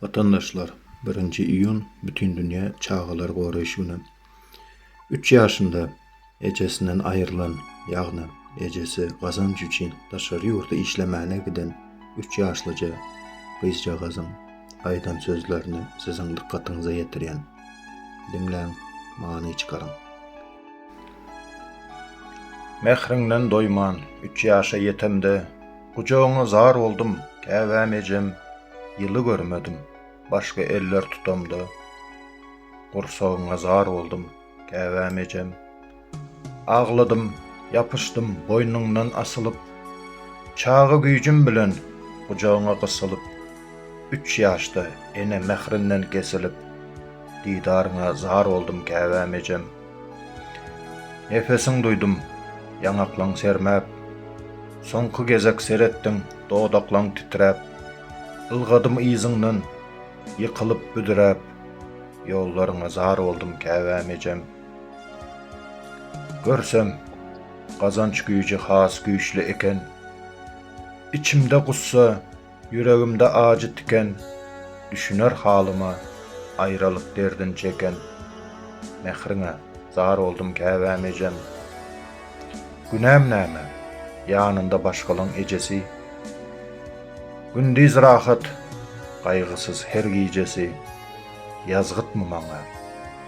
Watandaşlar, birinji iýun Bütindünýä çagalary goraýyş güni. Üç ýaşynda ejesinden aýrylan, ýagny ejesi gazanç üçin daşary ýurda işlemäne giden üç ýaşlyja gyzjagazyň aýdan sözlerini siziň dykgatyňyza ýetirýän. Diňläň, many çykaryň. Mähriňden doýman, üç ýaşa ýetemde, Gujagyňa zar boldum, käbäm ejem, Ýyly görmedim, başga eller tutamda, Gursagyňa zar boldum, käbäm ejem. Agladym, ýapyşdym, boýnuňdan asylyp, Çaga güýjüm bilen, gujagyňa gysylyp, Üç ýaşda, ene mährinden kesilip. Didaryňa zar oldum käbäm ejem. Nepesiň duýdum, ýaňaklaň sermäp. Soňky gezek seretdiň, dodaklaň titräp. Ylgadym yzyňdan, ýykylyp büdräp. Ýollaryňa zar oldum käbäm ejem. Görsem, gazanç güýji has güýçli eken. Içimde gussa. Ýüregimde ajy tiken, Düşüner halyma, Aýralyk derdin çeken. Mähriňe zar boldum käbäm ejem. Günäm näme, ýanynda başgalaň ejesi. Gündiz rahat, gaýgysyz her gijesi. Ýazgytmy maňa,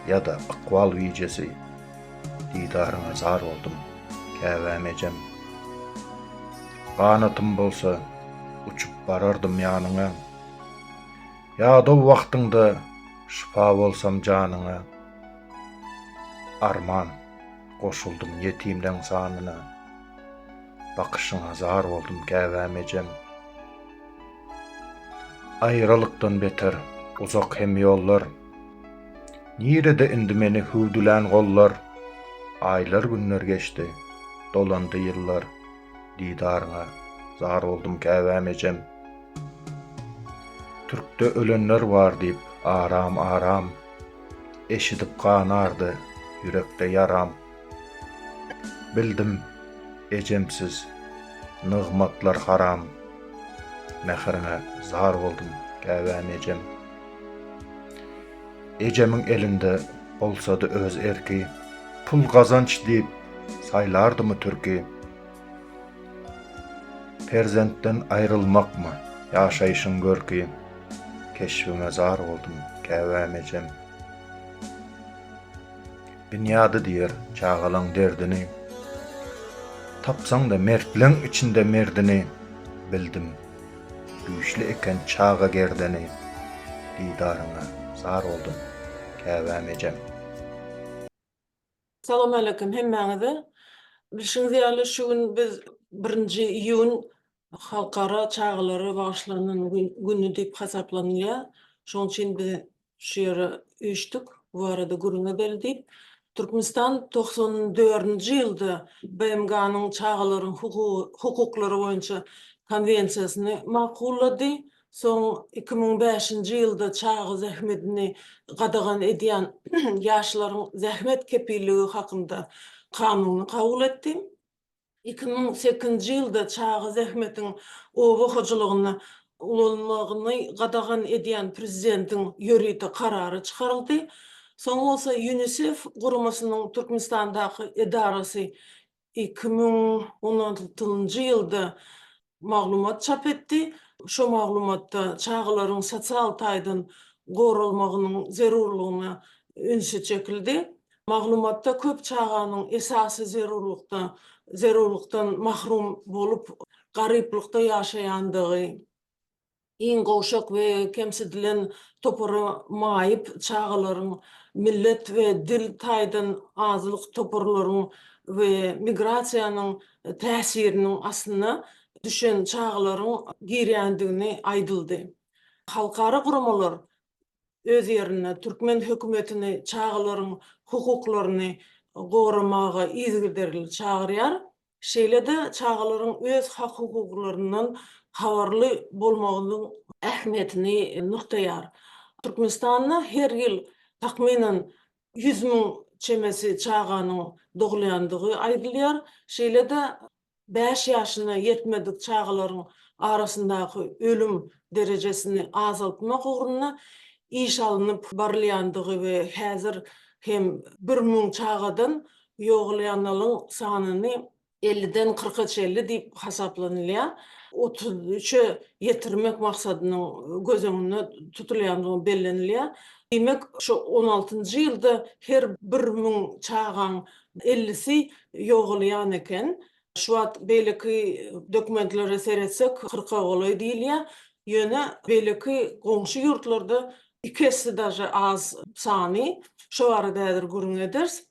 ýa-da ykbal bijesi. Didaryňa zar boldum, käbäm ejem. Ganatym bolsa, uçup barardym ýanyňa. Ýadaw wagtyňda şypa bolsam janyňa. Arman, goşuldym ýetimleň sanyna. Bakyşyňa zar boldum, käbäm ejem. Aýralykdan beter, uzak hem ýollar. Nirede indi meni hüwdülän gollar? Aýlar-günler geçdi, dolandy ýyllar, Didaryňa zar boldum käbäm ejem. Türkde ölenler bar diýip aram-aram, Eşidip ganardy ýürekde ýaram. Bildim, ejemsiz nygmatlar haram, Mähriňe zar boldum käbäm ejem. Ejemiň elinde bolsady öz erki, Pul gazanç diýip, saýlardymy türki? Perzentden aýrylmakmy, ýaşaýşyň görki, Keşbiňe zar boldum käbäm ejem. Binýady diýer çagalaň derdini. Tapsaň-da mertleň içinde merdini, Bildim, güýçli eken çaga gerdeni, Didaryňa zar boldum, käbäm ejem. Salam aleýkum hemmäňize. Bilşiňiz ýaly şu gün biz birinji iýun Halkara çagalara bagyşlanan güni diýip hasaplanylýar. Şonuň üçin biz şu ýere üýşdük, bu barada gürrüň edeli diýip. Türkmenistan togsan dördünji ýylda BMG-niň Çagalaryň hukuklary boýunça Konwensiýasyny makullady. Soň iki müň bäşinji ýylda çaga zähmedini gadagan edýän Ýaşlaryň zähmet kepilligi hakynda kanuny kabul etdi. Iki müň sekizinji ýylda çaga zähmetiň oba hojalygynda ulanylmagyny gadagan edýän prezidentiň ýörite karary çykaryldy. Soň bolsa Ýunisef guramasynyň Türkmenistandaky edarasy iki müň on altynjy ýylda maglumat çap etdi. Şu maglumatda çagalaryň sosial taýdan goralmagynyň zerurlygyna ünsi çekildi. Maglumatda köp çaganyň esasy zerurlykda zerurlykdan mahrum bolup, garyplykda ýaşaýandygy, Iň gowşak we kemsidilen topara maýyp çagalaryň, millet we dil taýdan azlyk toparlaryň we migrasiýanyň täsiriniň astyna düşen çagalaryň girýändigini aýdyldy. Halkara guramalar öz ýerinde türkmen hökümetini çagalaryň hukuklaryny goramaga yzygiderli çagyrýar. Şeýle-de çagalaryň öz hak-hukuklaryndan habarly bolmagynyň ähmiýetini nygtaýar. Türkmenistanda her ýyl takmynan ýüz müň çemesi çaganyň dogulýandygy aýdylýar. Şeýle-de bäş ýaşyna ýetmedik çagalaryň arasyndaky ölüm derejesini azaltmak ugrunda iş alnyp barylýandygy we häzir hem bir müň çagadan Ýogalýanlaryň sanyny elliden kyrka çenli diýip hasaplanylýar. Otuz üçe ýetirmek maksadynyň göz öňünde tutulýandygy bellenilýär. Diýmek, şu on altynjy ýylda her bir müň çagaň ellisi ýogalýan eken. Şu wagt beýleki dokumentlere seretsek, kyrka golaý diýilýär. Ýöne beýleki goňşy ýurtlarda iki esse daže az sany. Şo barada häzir gürrüň ederis.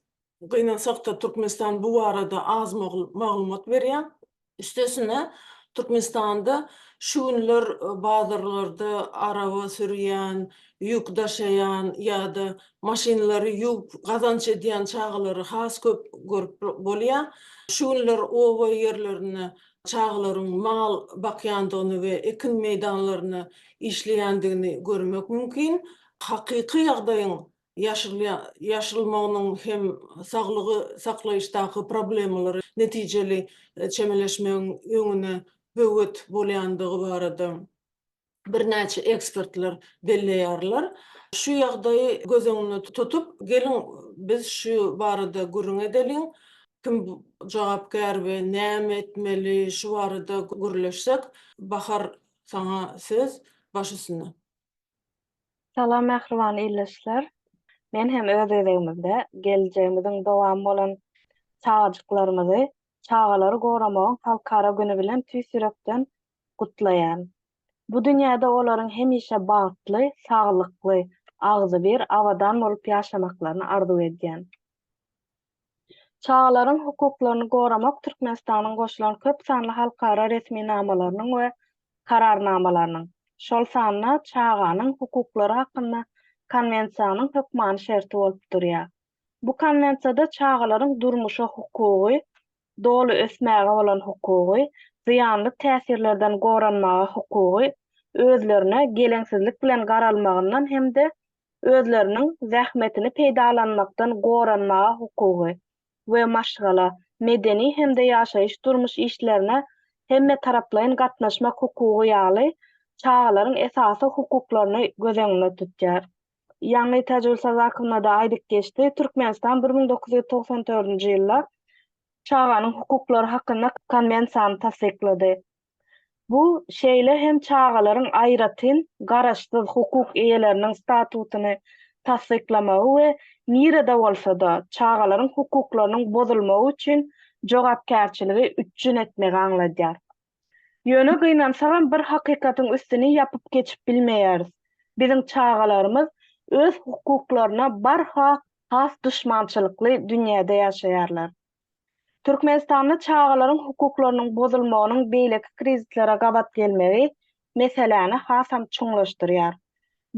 Gynansakda Türkmenistan bu barada az maglumat berýär. Üstesine Türkmenistanda şu günler bazarlarda araba sürýän, ýük daşaýan ýa-da maşynlary ýuwup gazanç edýän çagalary has köp görüp bolýar. Şu günler oba ýerlerinde çagalaryň mal bakýandygyny we ekin meýdanlarynda işleýändigini görmek mümkin. Hakyky ýagdaýyň ýaşalmagynyň hem saglygy saklaýyşdaky problemalary netijeli çemeleşmegiň öňüne böwet bolýandygy barada birnäçe ekspertler belleýärler. Şu ýagdaýy göz öňünde tutup, geliň, biz şu barada gürrüň edeliň. Kim jogapkär we näme etmeli, şu barada gürleşsek. Bahar, saňa söz, baş üstüne. Salam mähriban ildeşler. Men hem öz gezegimizde geljegimiziň dowamy bolan çagajyklarymyzy çagalary goramagyň halkara güni bilen tüýs ýürekden gutlaýan. Bu dünýäde olaryň hemişe bagtly, saglykly, agzybir, abadan bolup ýaşamaklaryny arzuw edýän. Çagalaryň hukuklaryny goramak Türkmenistanyň goşulan köp sanly halkara resminamalarynyň we Kararnamalarynyň, şol sanda Çaganyň hukuklary hakynda Konwensiýanyň hökmany şerti bolup durýar. Bu Konwensiýada çagalaryň durmuşa hukugy, doly ösmäge bolan hukugy, zyýanly täsirlerden goranmaga hukugy, özlerine geleňsizlik bilen garalmagyndan hem-de özleriniň zähmetini peýdalanmakdan goranmaga hukugy we maşgala, medeni hem-de ýaşaýyş-durmuş işlerine hemmetaraplaýyn gatnaşmak hukugy ýaly çagalaryň esasy hukuklaryny göz öňünde tutýar. Ýaňy Täjigül Sadakowna-da aýdyp geçdi, Türkmenistan bir müň dokuz ýüz togsan dördünji ýylda Çaganyň hukuklary hakynda Konwensiýany tassyklady. Bu şeýle hem çagalaryň aýratyn garaşsyz hukuk eýeleriniň statusyny tassyklamagy we nirede bolsa-da çagalaryň hukuklarynyň bozulmagy üçin jogapkärçiligi üpjün etmegi aňladýar. Ýöne gynansagam bir hakykatyň üstüni ýapyp geçip bilmeýäris, biziň çagalarymyz öz hukuklaryna barha has duşmançylykly dünýäde ýaşaýarlar. Türkmenistanda çagalaryň hukuklarynyň bozulmagynyň beýleki krizislere gabat gelmegi meseläni hasam çuňlaşdyrýar.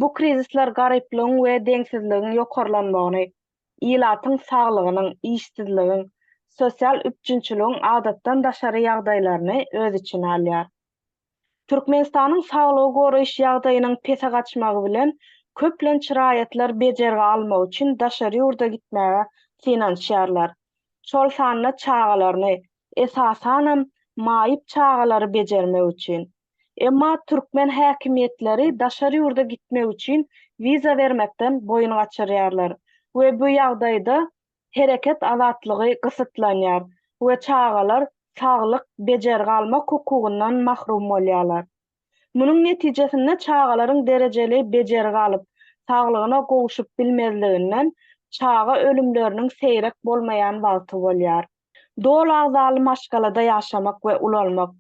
Bu krizisler garyplygyň we deňsizligiň ýokarlanmagyny, ilatyň saglygynyň, işsizligiň, sosial üpjünçiligiň adatdan daşary ýagdaýlaryny öz içine alýar. Türkmenistanyň saglygy goraýyş ýagdaýynyň pese gaçmagy bilen köplenç raýatlar bejergi almak üçin daşary ýurda gitmäge synanyşýarlar. Şol sanda çagalaryny, esasanam, maýyp çagalary bejermek üçin. Emma türkmen häkimiýetleri daşary ýurda gitmek üçin wiza bermekden boýun gaçyrýarlar we bu ýagdaýda hereket azatlygy gysytlanýar we çagalar saglyk, bejergi almak hukugyndan mahrum bolýarlar. Munuň netijesinde çagalaryň derejeli bejergi alyp, saglygyna gowşup bilmezliginden çaga ölümleriniň seýrek bolmaýan wagty bolýar. Doly agzaly maşgalada ýaşamak we ulalmak,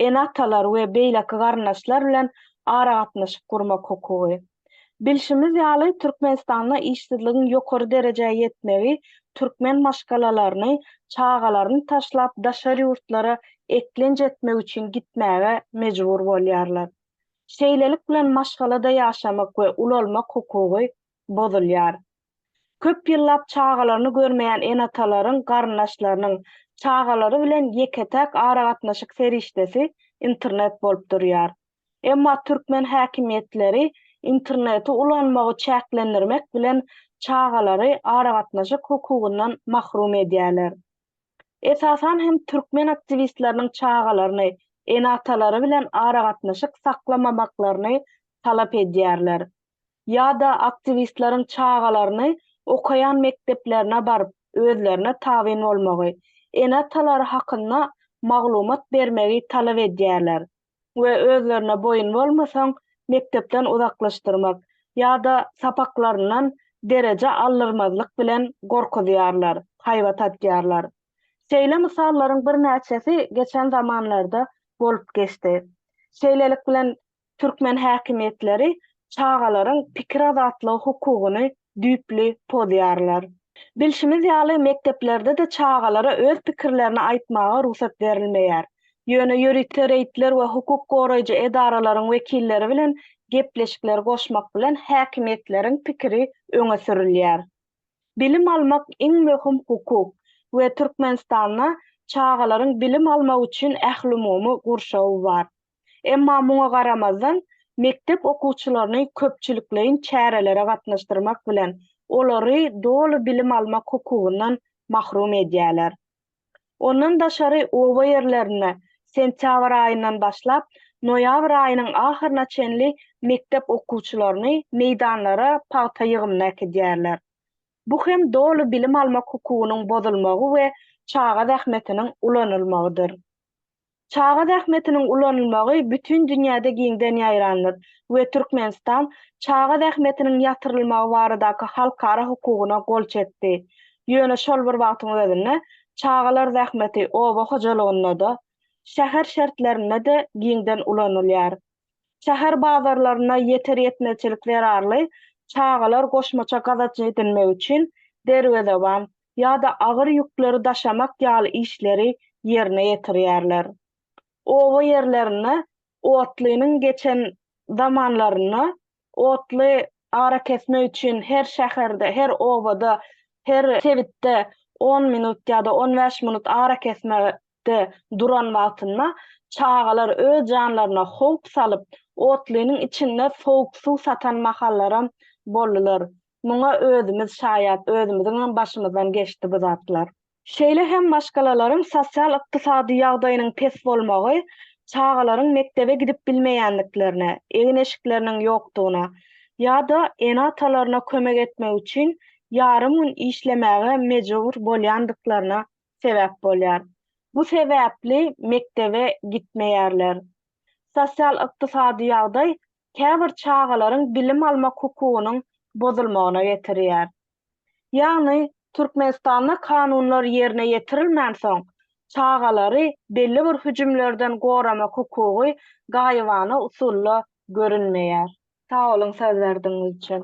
ene-atalar we beýleki garyndaşlar bilen aragatnaşyk gurmak hukugy. Bilşimiz ýaly, Türkmenistanda işsizligiň ýokary derejä ýetmegi türkmen maşgalalaryny, çagalaryny taşlap daşary ýurtlara eklenç etmek üçin gitmäge mejbur bolýarlar. Şeýlelik bilen maşgalada ýaşamak we ulalmak hukugy bozulýar. Köp ýyllap çagalaryny görmeýän ene-atalaryň garyndaşlarynyň çagalary bilen ýeke-täk aragatnaşyk serişdesi internet bolup durýar. Emma türkmen häkimiýetleri interneti ulanmagy çäklendirmek bilen çagalary aragatnaşyk hukugyndan mahrum edýärler. Esasan hem türkmen aktiwistleriniň çagalaryny ene-atalary bilen aragatnaşyk saklamamaklaryny talap edýärler. ýa-da aktiwistleriň çagalaryny okaýan mekdeplerine baryp özlerine tabyn bolmagy, ene-atalary hakynda maglumat bermegi talap edýärler we özlerine boýun bolmasaň mekdepden uzaklaşdyrmak ýa-da sapaklaryndan dereje aldyrmazlyk bilen gorkuzýarlar, haýbat atýarlar. Şeýle mysallaryň birnäçesi geçen zamanlarda bolup geçdi. Şeýlelik bilen türkmen häkimiýetleri çagalaryň pikir azatlygy hukugyny düýpli pozýarlar. Bilşimiz ýaly, mekdeplerde-de çagalara öz pikirlerini aýtmaga rugsat berilmeýär. Ýöne ýörite reýdler we hukuk goraýjy edaralaryň wekilleri bilen gepleşikleri goşmak bilen häkimiýetleriň pikiri öňe sürülýär. Bilim almak iň möhüm hukuk we Türkmenistanda çagalaryň bilim almagy üçin ählumumy gurşawy bar. Emma muňa garamazdan, mekdep okuwçylaryny köpçülikleýin çärelere gatnaşdyrmak bilen, olary doly bilim almak hukugyndan mahrum edýärler. Ondan daşary oba ýerlerinde sentýabr aýyndan başlap, noýabr aýynyň ahyryna çenli mekdep okuwçylaryny meýdanlara pagta ýygymyna äkidýärler. Bu hem doly bilim almak hukugynyň bozulmagy we çaga zähmetiniň ulanylmagydyr. Çaga zähmetiniň ulanylmagy bütin dünýäde giňden ýaýrandyr we Türkmenistan çaga zähmetiniň ýatyrylmagy baradaky halkara hukugyna gol çekdi. Ýöne şol bir wagtyň özünde çagalar zähmeti oba hojalygynda-da, şäher şertlerinde-de giňden ulanylýar. Şäher bazarlarynda ýeter-ýetmezçilik zerarly çagalar goşmaça gazanç edinmek üçin derwezeban, ýa-da agyr ýükleri daşamak ýaly işleri ýerine ýetirýärler. Oba ýerlerinde otlynyň geçen zamanlarynda otly arakesmek üçin her şäherde, her obada, her sebitde on minut ýa-da on bäş minut arakesmekde duran wagtynda çagalar öz janlaryna howp salyp, otlynyň içinde sowuk suw satan mahallaram boldular. Muňa özümiz şaýat, özümiziňem başymyzdan geçdi bu zatlar. Şeýle hem maşgalalaryň sosial-ykdysady ýagdaýynyň pes bolmagy çagalaryň mekdebe gidip bilmeýändiklerine, egin-eşikleriniň ýokdugyna ýa-da ene-atalaryna kömek etmek üçin ýarym gün işlemäge mejbur bolýandyklaryna sebäp bolýar. Bu sebäpli mekdebe gitmeýärler. Sosial-ykdysady ýagdaý käbir çagalaryň bilim almak hukugynyň bozulmagyna getirýär. Ýagny, Türkmenistanda kanunlar ýerine ýetirilmänsoň, çagalary belli bir hüjümlerden goramak hukugy gaýybana usulda görünmeýär. Sag boluň sözlerdiňiz üçin.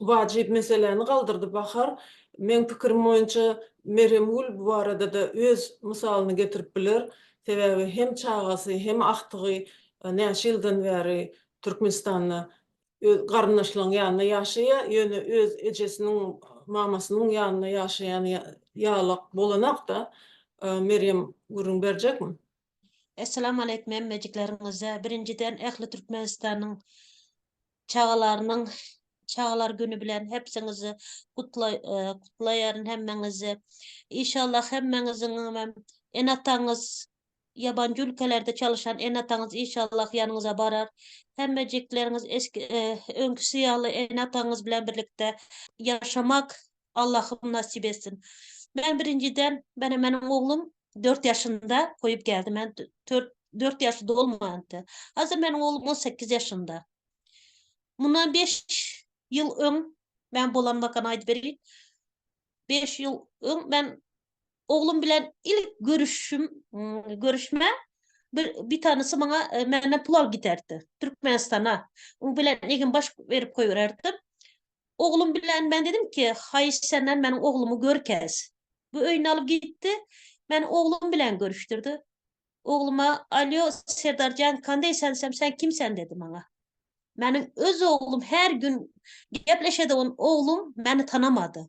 wajyp meseläni galdyrdy Bahar. Meň pikirim boýunça Meremgül bu barada-da öz mysalyny getirip biler. Sebäbi hem çagasy, hem agtygy näçe ýyldan bäri Türkmenistanda öz garyndaşlaryň ýanynda ýaşaýar, ýöne öz ejesiniň, mamasynyň ýanynda ýaşaýan ýalak bolanok-da. Merýem gürrüň berjekmi? Essalamu aleýkum hemmejiklerňize. Birinjiden ähli Türkmenistanyň Çagalarynyň çagalar güni bilen hepsiňizi gutlaýaryn hemmeňizi. Işallah hemmeňiziňem ene-ataňyz ýabanjy ülkelerde çalyşan ene-ataňyz işallah ýanyňyza barar. Hemmejikleriňiz öňküsi ýaly ene-ataňyz bilen birlikde ýaşamak Allahym nasip etsin. Men birinjiden mena meniň oglum dört ýaşynda goýup geldi men dört ýaşy dolmandy. Hazir meniň oglum on sekiz ýaşynda. Mundan beş ýyl öň men bolanmakan aýdyp berin. Beş ýyl öň men oglum bilen ilk görüşim görüşme bir bir tanysy maňa e, menden pul alyp giderdi. Türkmenistana. Oň bilen egin baş berip goýbererdim. Oglum bilen men dedim ki, haýyş senden meniň oglumy görkez. Bu öýüne alyp gitdi. Meni oglum bilen görüşdirdi. Ogluma, Alýo, Serdar jan, kandeý sensem, sen kim sen dedi maňa. Meniň öz oglum her gün gepleşedigim oglum meni tanamady.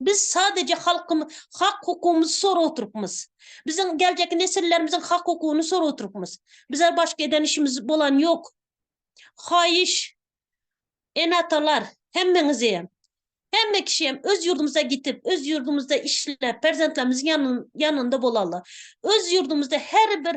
Biz sadece halkym hak hukumyzy sorap oturupmyz. Biziň geljeki nesillerimiziň hak hukuny sorap oturupmyz. Bize başga eden işimiz bolan yok. Haýyş ene atalar hemmeňizem hemme kişiyem öz ýurdumyza gitip öz ýurdumyzda işlep perzentlerimiziň ýanynda bolaly. Öz ýurdumyzda her bir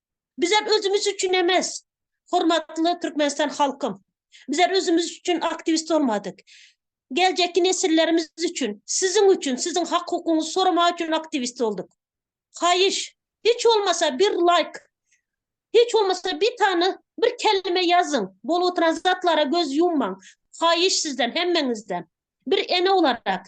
Bizler özümiz üçin emes, hormatly Türkmenistan halkym. Bizler özümiz üçin aktiwist bolmadyk. Geljekki nesillerimiz üçin, siziň üçin, siziň hak-hukugyňyzy soramak üçin aktiwist bolduk. Haýyş, hiç bolmasa bir laýk, hiç bolmasa bir sany bir kelime ýazyň. Bolup oturan zatlara göz ýummaň. Haýyş sizden, hemmeňizden. Bir ene olarak,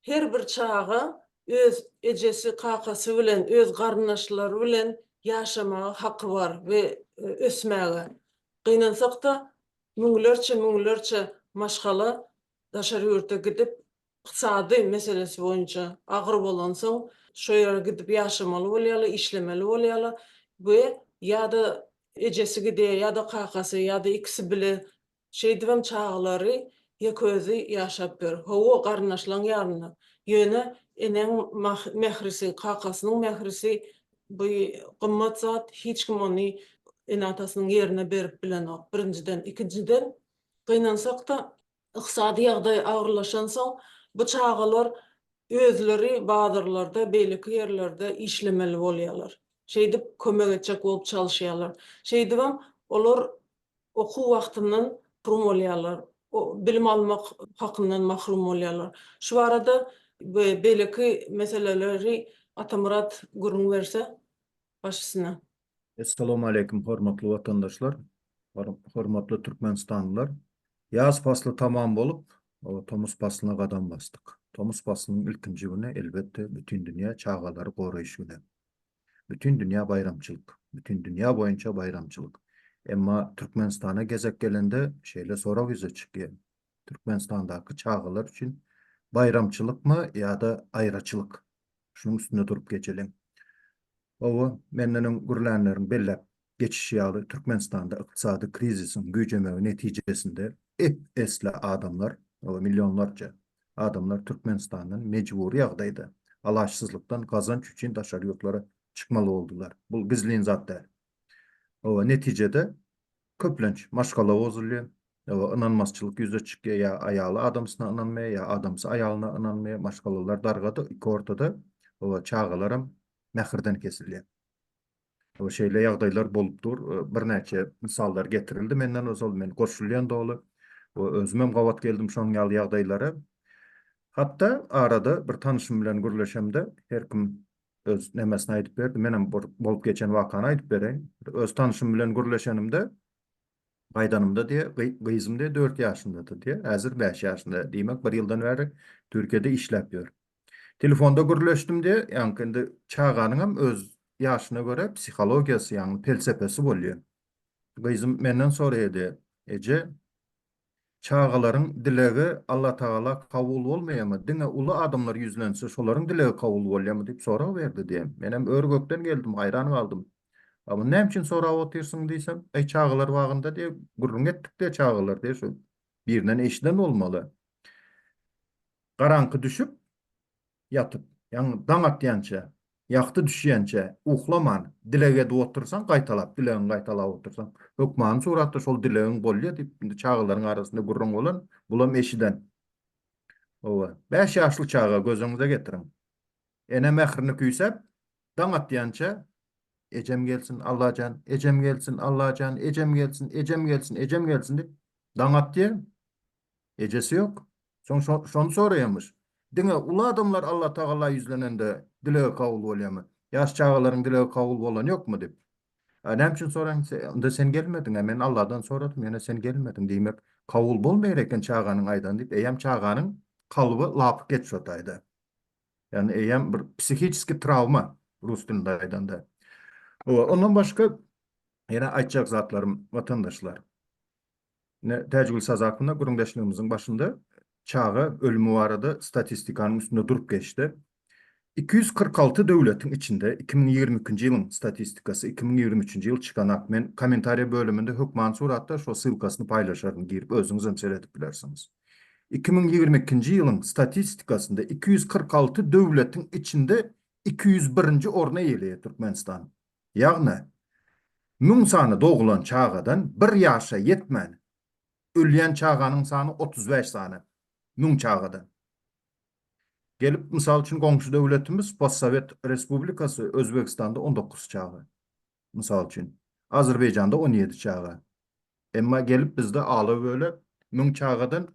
Her bir çaga öz ejesi, kakasy bilen, öz garyndaşlary bilen ýaşamaga haky bar we ösmäge. Gynansak-da, müňlerçe, müňlerçe maşgala daşary ýurda gidip, ykdysady meselesi boýunça agyr bolansoň, şo ýere gidip ýaşamaly bolýarlar, işlemeli bolýarlar we ýa-da ejesi gidýär, ýa-da kakasy, ýa-da ikisi bile Şeýdibem çagalary ýekeözi ýaşap ýör. Hawa, garyndaşlaň ýalynda. Ýöne eneň mährisi, kakasynyň mährisi bu gymmat zat, hiç kim ony ene-atasynyň ýerine berip bilenok, birinjiden. Ikinjiden, gynansak-da, ykdysady ýagdaý agyrlaşansoň, bu çagalar özleri bazarlarda, beýleki ýerlerde işlemeli bolýarlar. Şeýdip, kömek etjek bolup çalyşýarlar. Şeýdibem, olar okuw wagtyndan mahrum bolýarlar, bilim almak hakyndan mahrum bolýarlar. Şu barada we beýleki meseleleri Atamyrat gürrüň berse, baş üstüne. Essalamualeýkum hormatly watandaşlar, hormatly türkmenistanlylar. Ýaz pasly tamam bolup, tomus paslyna gadam basdyk. Tomus paslynyň ilkinji güni, elbetde, bütin dünýä çagalary goraýyş güni. Bütin dünýä baýramçylyk, bütin dünýä boýunça baýramçylyk. Emma Türkmenistana gezek gelende şeýle sorag ýüze çykýar, Türkmenistandaky çagalar üçin baýramçylykmy ýa-da aýraçylyk? Şunuň üstünde durup geçeliň. Hawa, menden öň gürlänleriň belläp geçişi ýaly, Türkmenistanda ykdysady krizisiň güýjemegi netijesinde ep-esli adamlar, hawa, millionlarça adamlar Türkmenistandan mejbury ýagdaýda, alaçsyzlykdan gazanç üçin daşary ýurtlara çykmaly boldular. Bul gizlin zat däl. Hawa, netijede, köplenç maşgala bozulýar, hawa, ynanmazçylyk ýüze çykýar, ýa aýaly adamsyna ynanmaýar, ýa adamsy aýalyna ynanmaýar, maşgalalar dargada, iki ortada, hawa, çagalaram mähirden kesilýär. Şeýle ýagdaýlar bolup dur. Birnäçe mysallar getirildi menden ozal, men goşulýan doly. Özümem gabat geldim şonuň ýaly ýagdaýlara. Hatda arada bir tanyşym bilen gürleşemde, her kim öz nemesini aýdyp berdi. Menem bir bolup geçen wakany aýdyp bereýin. Öz tanyşym bilen gürleşenimde, Gaýdanymda diýe, gyzym diýe dört ýaşyndady diýe, häzir bäş ýaşynda, diýmek bir ýyldan bäri Türkiýede işläp ýör. Telefonda gürleşdim diýe, ýaňky indi çaganyňam öz ýaşyna görä psihologiýasy, ýagny pelsepesi bolýa. Gyzym menden soraýa diýe, Eje, Çagalaryň dilegi Allatagala kabul bolmaýamy, diňe uly adamlar ýüzlense şolaryň dilegi kabul bolýamy diýip sorag berdi diýen. Menem ör-gökden geldim, haýran galdym. A muny näme üçin sorap otyrsyň diýsem, Äý çagalar bagynda diýe gürrüň etdik diýe çagalar diýe şu birinden eşiden bolmaly. Garaňky düşüp, Ýatyp, ýagny daň atýança, ýagty düşýänçä uhlaman dileg edip otursaň, gaýtalap, dilegiňi gaýtalap otursaň, hökmany suratda şol dilegiň bolýar diýip, indi çagalaryň arasynda gürrüň bolan, bulam eşiden. Hawa, bäş ýaşly çaga gözüňize getiriň. Ene mährini küýsäp, daň atýança, Ejem gelsin, Allajan, ejem gelsin, Allajan, ejem gelsin, ejem gelsin, ejem gelsin diýip, daň atýar. Ejesi ýok. Soň şony soraýamyş. Diňe uly adamlar Allatagala ýüzlenende dilegi kabul bolýamy? Ýaş çagalaryň dilegi kabul bolany ýokmy diýip. A näme üçin soraň, onda sen gelmediň-ä, men Alladan soradym, ýöne sen gelmediň. Diýmek, kabul bolmaýar eken çaganyň aýdany diýip, eýýäm çaganyň kalby lapykeç şo taýda. Ýagny eýýäm bir psihiçeskiý trawma, rus dilinde aýdanda. Ondan başga ýene aýtjak zatlarym, watandaşlar. Ine, Täjigül Sazakowna gürrüňdeşligimiziň başynda çaga ölümi barada statistikanyň üstünde durup geçdi. Iki ýüz kyrk alty döwletiň içinde, iki müň ýigrimi ikinji ýylyň statistikasy, iki müň ýigrimi üçünji ýyl çykanak, men kommentariýa bölüminde hökman suratda şo ssylkasyny paýlaşaryn, girip özüňizem seredip bilersiňiz. Iki müň ýigrimi ikinji ýylyň statistikasynda iki ýüz kyrk alty döwletiň içinde iki ýüz birinji orny eýeleýär Türkmenistan. Ýagny, müň sany doglan çagadan bir ýaşa ýetmän, ölýän çaganyň sany otuz bäş sany, müň çagadan. Gelip, mysal üçin, goňşy döwletimiz, postsowet respublikasy, Özbegistanda on dokuz çaga, mysal üçin, Azerbaýjanda on ýedi çaga. Emma gelip bizde ala-böle müň çagadan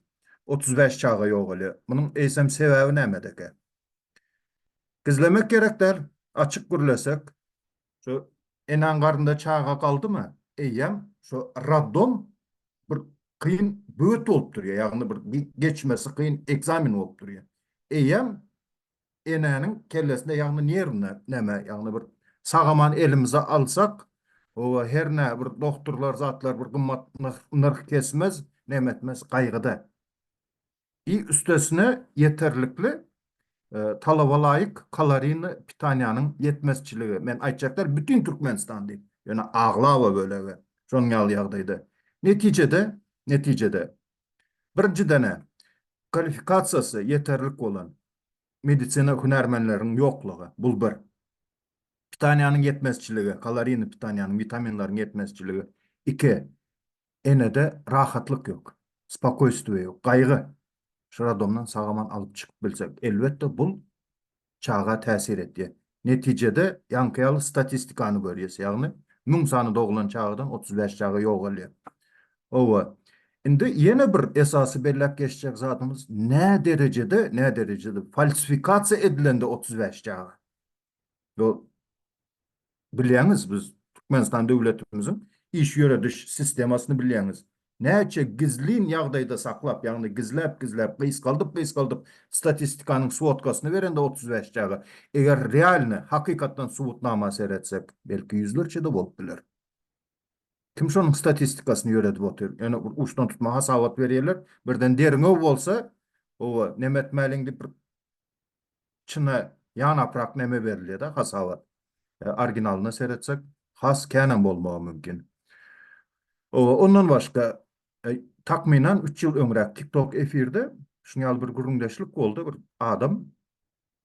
otuz bäş çaga ýogalýar. Munuň eýsem sebäbi nämedäkä? Gizlemek gerek däl, açyk gürlesek. Şu eneň garnynda çaga galdymy, eýýäm şu raddom bir kyn böwet bolup durýar, ýagny bir geçmesi kyn ekzamen bolup durýar. Eýýäm enäniň kellesinde, ýagny nerwinde näme, ýagny bir sag-aman elimize alsak, oba hernä bir dogturlar, zatlar bir gymmat nyrh kesmez, näme etmez, gaýgyda. I üstesine ýeterlikli talabalaýyk kalorini pitaniýanyň ýetmezçiligi, men aýtjak däl bütin Türkmenistan diýip, ýöne aglaba bölege şonuň ýaly ýagdaýda. Netijede, netijede birinjidene kwalifikasiýasy ýeterlik bolan medisina hünärmenleriniň ýoklugy, bul bir. Pitaniýanyň ýetmezçiligi, kalorini pitaniýanyň, witaminleriň ýetmezçiligi, iki. enede rahatlyk ýok, spokoýstwo ýok, gaýgy. Şu radomdan sag-aman alyp çykyp bilsek, elbetde, bul çaga täsir etýär. Netijede, ýaňky ýaly statistikany görýäs, ýagny müň sany doglan çagadan otuz bäş çaga ýogalýar. Hawa, indi ýene bir esasy belläp geçjek zadymyz, näderejede, näderejede falsifikasiýa edilende otuz bäş çaga? Ýo bilýäňiz biz Türkmenistan döwletimiziň iş ýörediş sistemasyny bilýäňiz. Näçe gizlin ýagdaýda saklap, ýagny gizläp gizläp, gysgaldyp gysgaldyp statistikanyň swodkasyny berende otuz bäş çaga, eger realny, hakykatdan subutnama seretsek, belki ýüzlerçe-de bolup biler. Kim şonuň statistikasyny ýöredip otyr? Ýöne bir uçdan tutma hasabat berýärler, birden derňew bolsa, owa, nemetmäliň diýip bir içine ýanaprak neme berilýeda hasabat originalyna seretsek has känem bolmagy mümkin. Ondan başga takmynan üç ýyl öňräk tiktok efirde şuny ýaly bir gürrüňdeşlik boldy bir adam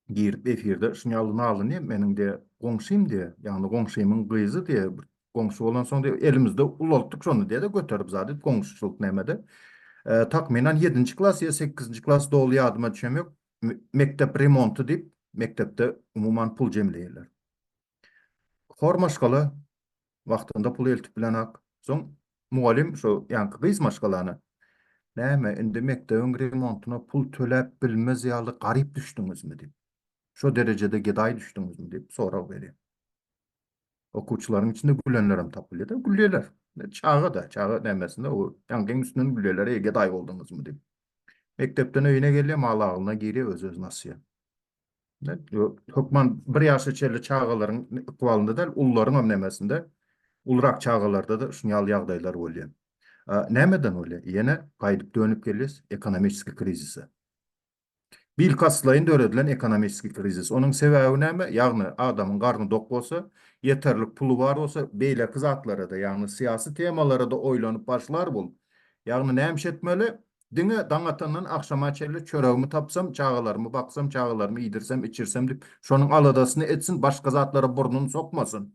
girip efirde şuny ýaly nalynýa meniň diýe goňşym diýe ýagny goňşymyň gyzy diýe Goňşy bolansoň diýip, elimizde ulaltdyk şony diýe-de göterip zady goňşuçylyk nämede. Takmynan ýedinji klas ýa sekizinji klas doly ýadyma düşem ýok. Mekdep remonty diýip, mekdepde umuman pul jemleýärler. Hor maşgala wagtynda pul eltip bilenok. Soň mugallym şo ýaňky gyz maşgalany Näme, indi mekdebiň remontyna pul töläp bilmez ýaly garyp düşdüňizmi diýip. Şo derejede gedaý düşdüňizmi diýip sorag berýär. Okuwçylaryň içinde gülenlerem tapylýar-da, gülýärler. Çaga-da, çaga nämesine o ýaňkyň üstünden gülýärler, eý, gedaý bolduňyzmy diýip. Mekdepden öýüne gelýär, maly agzyna girýär, öz-özüni asýar. Hökman bir ýaşa çenli çagalaryň ykbalynda däl, ullaryňam nämesinde, ulurak çagalarda-da şuny ýaly ýagdaýlar bolýar. Nämeden bolýar? Ýene gaýdyp dönüp gelýäs ekonomiski krizise. Bilkastlaýyn döredilen ekonomiki krizis. Onuň sebäbi näme? Ýagny, adamyň garny dok bolsa, ýeterlik puly bar bolsa, beýleki zatlara-da, ýagny syýasy temalara-da oýlanyp başlar bul. Ýagny, nämiş etmeli? Diňe daň atandan agşama çenli çöregimi tapsam, çagalarymy baksam, çagalarymy iýdirsem, içirsem diýip, şonuň aladasyny etsin, başga zatlara burnuny sokmasyn.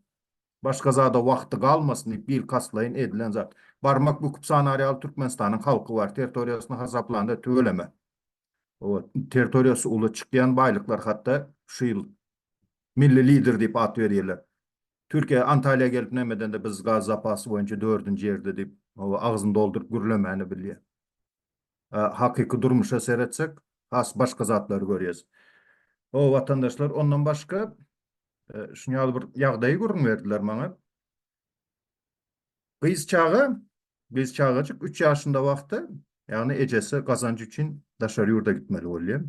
Başga zada wagty galmasyn diýip bilkastlaýyn edilen zat. Barmak büküp sanary ýaly Türkmenistanyň halky bar, territoriýasyny hasaplanda tüweleme. Owat, territoriýasy uly çykýan baýlyklar hatda şu ýyl Milli lider diýip at berýärler. Türkiýe Antaliýa gelip näme edende biz gaz zapasy boýunça dördünji ýerde diýip agzyny dolduryp gürlemäni bilýär. hakyky durmuşa seretsek, has başga zatlary görýäs. Ho, watandaşlar, ondan başga şuny ýaly bir ýagdaýy gürrüň berdiler maňa. Gyz çaga, gyz çagajyk üç ýaşynda wagty, ýagny ejesi gazanç üçin daşary ýurda gitmeli bolýar.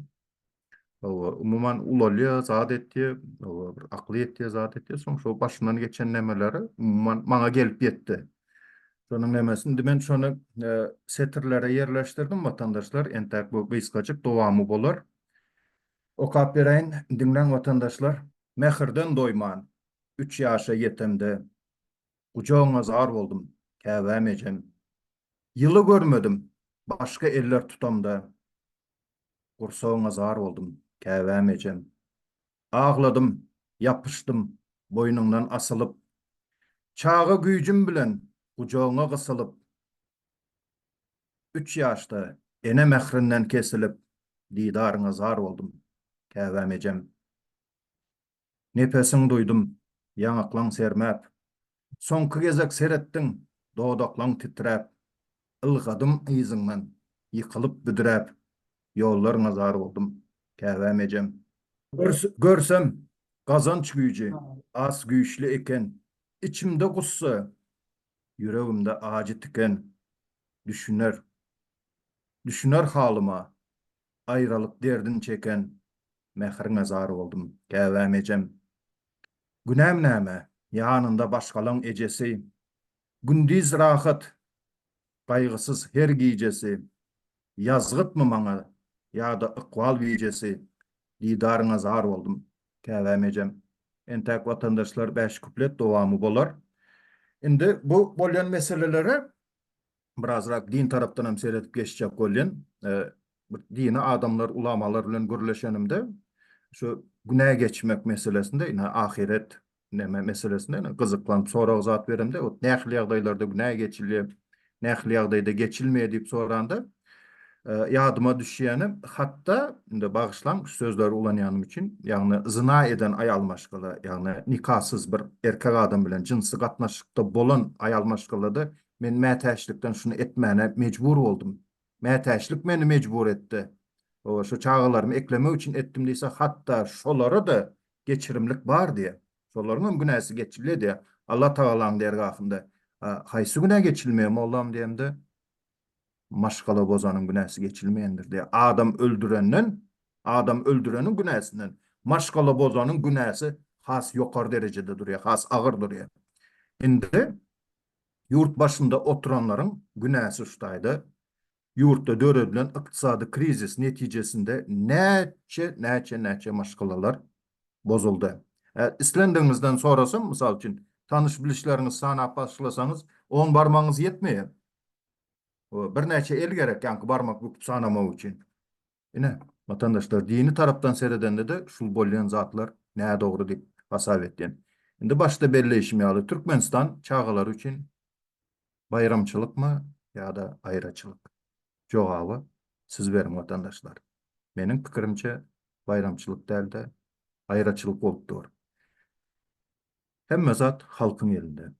Hawa, umuman ulalýar, zat etýär, hawa, bir akly ýetýär, zat etýär. Soň şo başyndan geçen nämeleri umuman maňa gelip ýetdi. Şonuň nämesi, indi men şony e, setirlere ýerleşdirdim, watandaşlar. Entäk bu gysgajyk dowamy bolar. Okap beräýin, diňläň watandaşlar. Mähirden doýman, üç ýaşa ýetemde, gujagyňa zar boldum, käbäm ejem. Ýyly görmedim, başga eller tutamda, Gursagyňa zar boldum, käbäm ejem. Agladym, ýapyşdym, boýnuňdan asylyp. Çaga güýjüm bilen gujagyňa gysylyp. Üç ýaşda ene mährinden kesilip. Didaryňa zar boldum, käbäm ejem. Nepesiň duýdum, ýaňaklaň sermäp. Soňky gezek seretdiň, dodaklaň titräp. Ylgadym yzyňdan, ýykylyp büdräp. Ýollaryňa zar boldum, käbäm ejem. Görsem, gazanç güýji az güýçli eken. Içimde gussa, ýüregimde ajy tiken. Düşüner, düşüner halyma, aýralyk derdin çeken. Mähriňe zar boldum, käbäm ejem. Günäm näme, ýanynda başgalaň ejesi. Gündiz rahat, gaýgysyz her gijesi. Ýazgytmy maňa, ýa-da ykbal bijesi. Didaryňa zar boldum, käbäm ejem. Entäk watandaşlar bäş kuplet dowamy bolar. Indi bu bolýan meselelere Birazrak din tarapdan hem seredip geçjek bolýan. Bir dini adamlar, ulamalar bilen gürleşenimde şu günä geçmek meselesinde, ine ahyret neme meselesinde ine gyzyklanyp sorag jogap beremde, ot nähili ýagdaýlarda günä geçilýär, nähili ýagdaýda geçilmeýär diýip soranda, ýadyma düşýäni, hatda indi bagyşlaň şu sözleri ulanýanym üçin, ýagny zyna eden aýal maşgala, ýagny nikasyz bir erkek adam bilen jynsy gatnaşykda bolan aýal maşgalada Men mätäçlikden şuny etmäne mejbur boldum. Mätäçlik meni mejbur etdi. Hawa, şu çagalarymy eklemek üçin etdim diýse, hatda şolara-da geçirimlik bar diýýär. Şolaryň hem günäsi geçilýär diýýär Allatagalaň dergahynda. A haýsy günä geçilmeýär, mollam diýemde, Maşgala bozanyň günäsi geçilmeýändir diýýär. Adam öldürenden, adam öldüreniň günäsinden maşgala bozanyň günäsi has ýokary derejede durýar, has agyr durýar. Indi Ýurt başynda oturanlaryň günäsi şu taýda ýurtda döredilen ykdysady krizis netijesinde näçe näçe näçe maşgalalar bozuldy. Islendigiňizden sorasam mysal üçin tanyş bilişleriňizi sanap başlasaňyz on barmagyňyz ýetmeýär. Birnäçe el gerek ýaňky barmak büküp sanamak üçin. Ine, watandaşlar, dini tarapdan seredende-de şul bolýan zatlar nädogry diýip hasap etýän. Indi başda belleýşim ýaly, Türkmenistan çagalar üçin baýramçylykmy ýa-da aýraçylyk? Jogaby siz beriň, watandaşlar. Meniň pikirimçe, baýramçylyk däl-de, aýraçylyk bolup dur. Hemme zat halkyň elinde.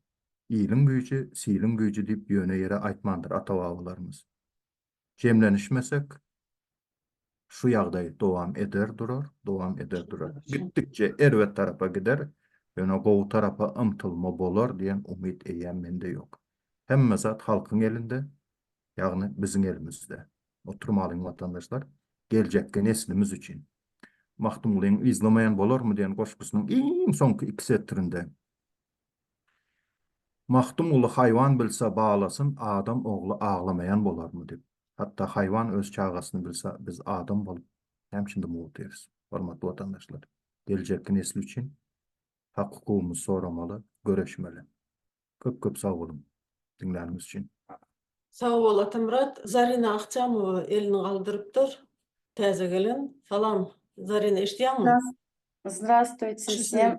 Iliň güýji, siliň güýji diýip ýöne ýere aýtmandyr ata-babalarymyz. jemlenişmesek, şu ýagdaý dowam eder durar, dowam eder durar. Gitdikçe erbet tarapa gider, ýöne gowy tarapa ymtylma bolar diýen umyt eýýäm mende ýok. Hemme zat halkyň elinde, ýagny biziň elimizde. Oturmalyň watandaşlar, geljekki neslimiz üçin. Magtymgulyň Yzlamaýan bolarmy diýen goşgusynyň iň soňky iki setirinde Magtymguly haýwan bilse baglasyn adam ogly aglamaýan bolarmy dip. Hatda haýwan öz çagasyny bilse biz adam bolup hem şindi mugt otyrs. Hormatly watandaşlar. Geljekki nesli üçin hak hukugymyzy soramaly, göreşmeli. Köp köp sag boluň diňläniňiz üçin. Sag bol Atamyrat. Zarina Akjamowa elini galdyrypdyr. Täze gelen. Salam Zarina eşidýäňmi? Zdrastwytse wsem.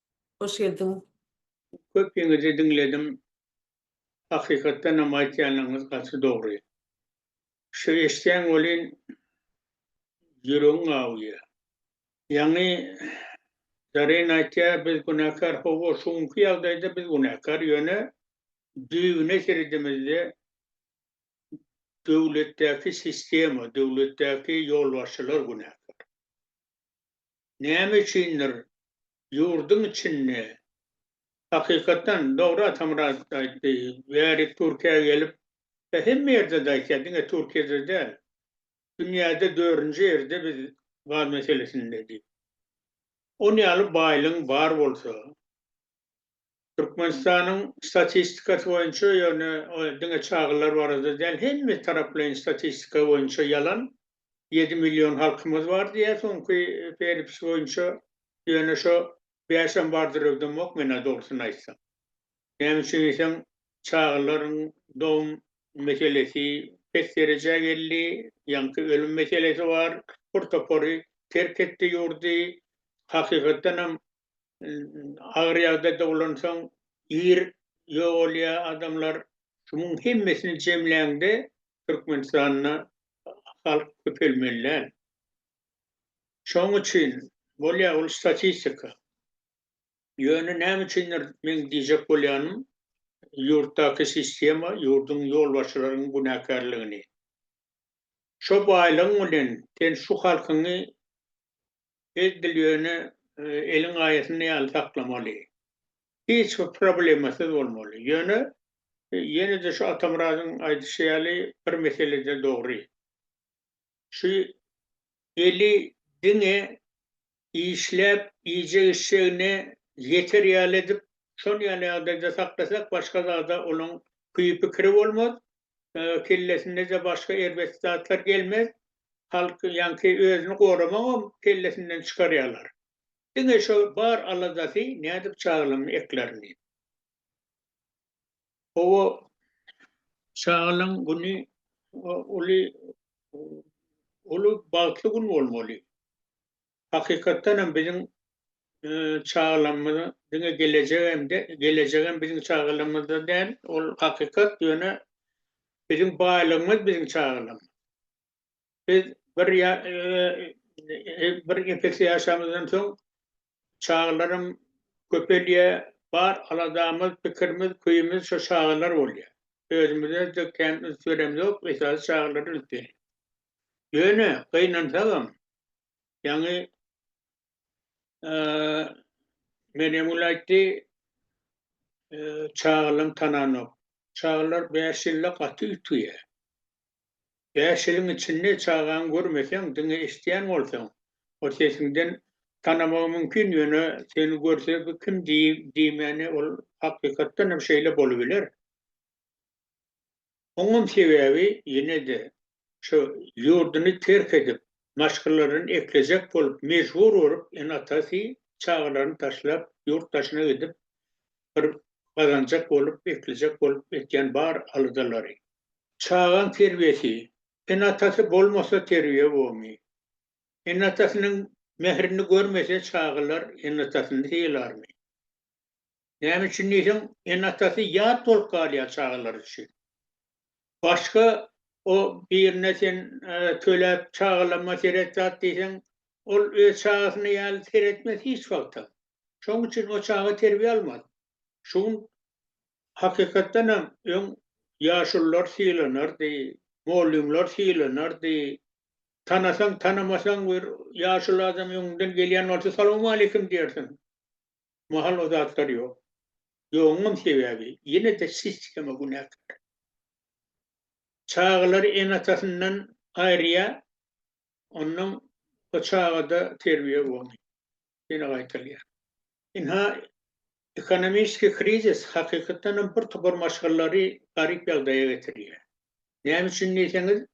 Hoş geldiň. Köpiňizi diňledim. Hakykatdanam aýtýanlaryňyz gaty dogry. Şu eşdýän welin ýüregiň awuýar. Ýaňy Zaryn aýtýa biz günäkär hawa şu günki ýagdaýda biz günäkär ýöne düýbüne seredemizde döwletdäki sistema, döwletdäki ýolbaşçylar günäkär. näme üçindir ýurduň içinde, hakykatdan dogry Atamyrat aýtdy, bärik Türkiýä gelip, ýa hemme ýerde-de aýtýar, diňe Türkiýede däl, dünýäde dördünji ýerde biz gaz meselesinde diýip. Ony ýaly baýlygyň bar bolsa, Türkmenistanyň statistikasy boýunça, ýöne ol diňe çagalar barada däl, hemme taraplaýyn statistika boýunça ýalan. Ýedi million halkymyz bar diýýär soňky Ferips boýunça, ýöne şo bäşem bardyr öwdemok men-ä dogrusyny aýtsam. Näme üçin diýseň, çagalaryň dogum meselesi pes derejä geldi, ýaňky ölüm meselesi bar, bir topary terk etdi ýurdy. Hakykatdanam agyr ýagdaýda bolansoň ir ýogalýar adamlar. Şumuň hemmesini jemläňde Türkmenistanda halk köpelmeli däl. Şoň üçin bolýar ol statistika. Ýöne näme üçindir meň diýjek bolýanym ýurtdaky sistema ýurduň ýolbaşçylaryň günäkärligini. Şo baýlygyň bilen sen şu halkyňy Biz bilýöni eliň gaýasynda ýaly saklamaly. Hiç bir problemasyz bolmaly. Ýöne, ýene-de şu Atamyradyň aýdyşy ýaly bir meselede dogry. Şu eli diňe işläp iýjek-içjegine ýeter ýaly edip, şon ýaly ýagdaýda saklasak, başga zada onuň küýi-pikiri bolmaz, kellesindeje başga erbet zatlar gelmez. Halk ýaňky özüni goramagam kellesinden çykarýarlar. Diňe şo bar aladasy nädip çagalaryny eklerin diýip. Hawa, çagalaň güni uly uly bagtly gün bolmaly. Hakykatdan hem biziň çagalarymyza diňe gelejek hem de gelejek hem biziň çagalarymyzda däl, ol hakykat, ýöne biziň baýlygymyz biziň çagalarymyz. Biz bir ýa bir nepes ýaşamyzdan soň çagalarym köpelýär, bar aladamyz, pikirimiz, köýümiz şo çagalar bolýar. Özümize-de kän üns beremzok, esasy çagalara üns berýäs. Ýöne gynansagam, ýaňy Meryemgül aýtdy, çagalam tananok. Çagalar bäş ýylda gaty üýtgeýär. Bäş ýylyň içinde çagaňy görmeseň, diňe eşidýän bolsaň, ol sesiňden tanamagy mümkin, ýöne seni görse bu kim diýmäni ol hakykatdan hem şeýle bolubiler. Oňam sebäbi ýene-de şu ýurduny terk edip, maşgalalaryny eklejek bolup mejbur bolup ene-atasy çagalaryny taşlap ýurt daşyna gidip bir gazanjak bolup eklejek bolup etýän bar aladalary. Çagaň terbiýesi, ene-atasy bolmasa terbiýe bomy? Ene-atasynyň mährini görmese çagalar ene-atasyny sylarmy? Näme üçin diýseň, ene-atasy ýat bolup galýar çagalar üçin. Başga o birine sen töläp çagalama seret zat diýseň, ol öz çagasyna ýaly seretmez hiç wagtam. Şonuň üçin o çaga terbiýe almaz. Şu gün hakykatdan hem öň ýaşulular sylanardy, mollymlar sylanardy. Tanasaň, tanamasaň bir ýaşuly adam öňüňden gelýän bolsa, Salawmaleýkim diýersiň. mahal o zatlar ýok. Ýoguňam sebäbi, ýene-de sistema günäkär. Çagalary ene-atasyndan aýyrýar, onnoň o çagada terbiýe bolmaýar. Ýene gaýtalýar. Ynha, ekonomiski krizis hakykatdanam bir topar maşgalary garyp ýagdaýa getirýär. Näme üçin diýseňiz,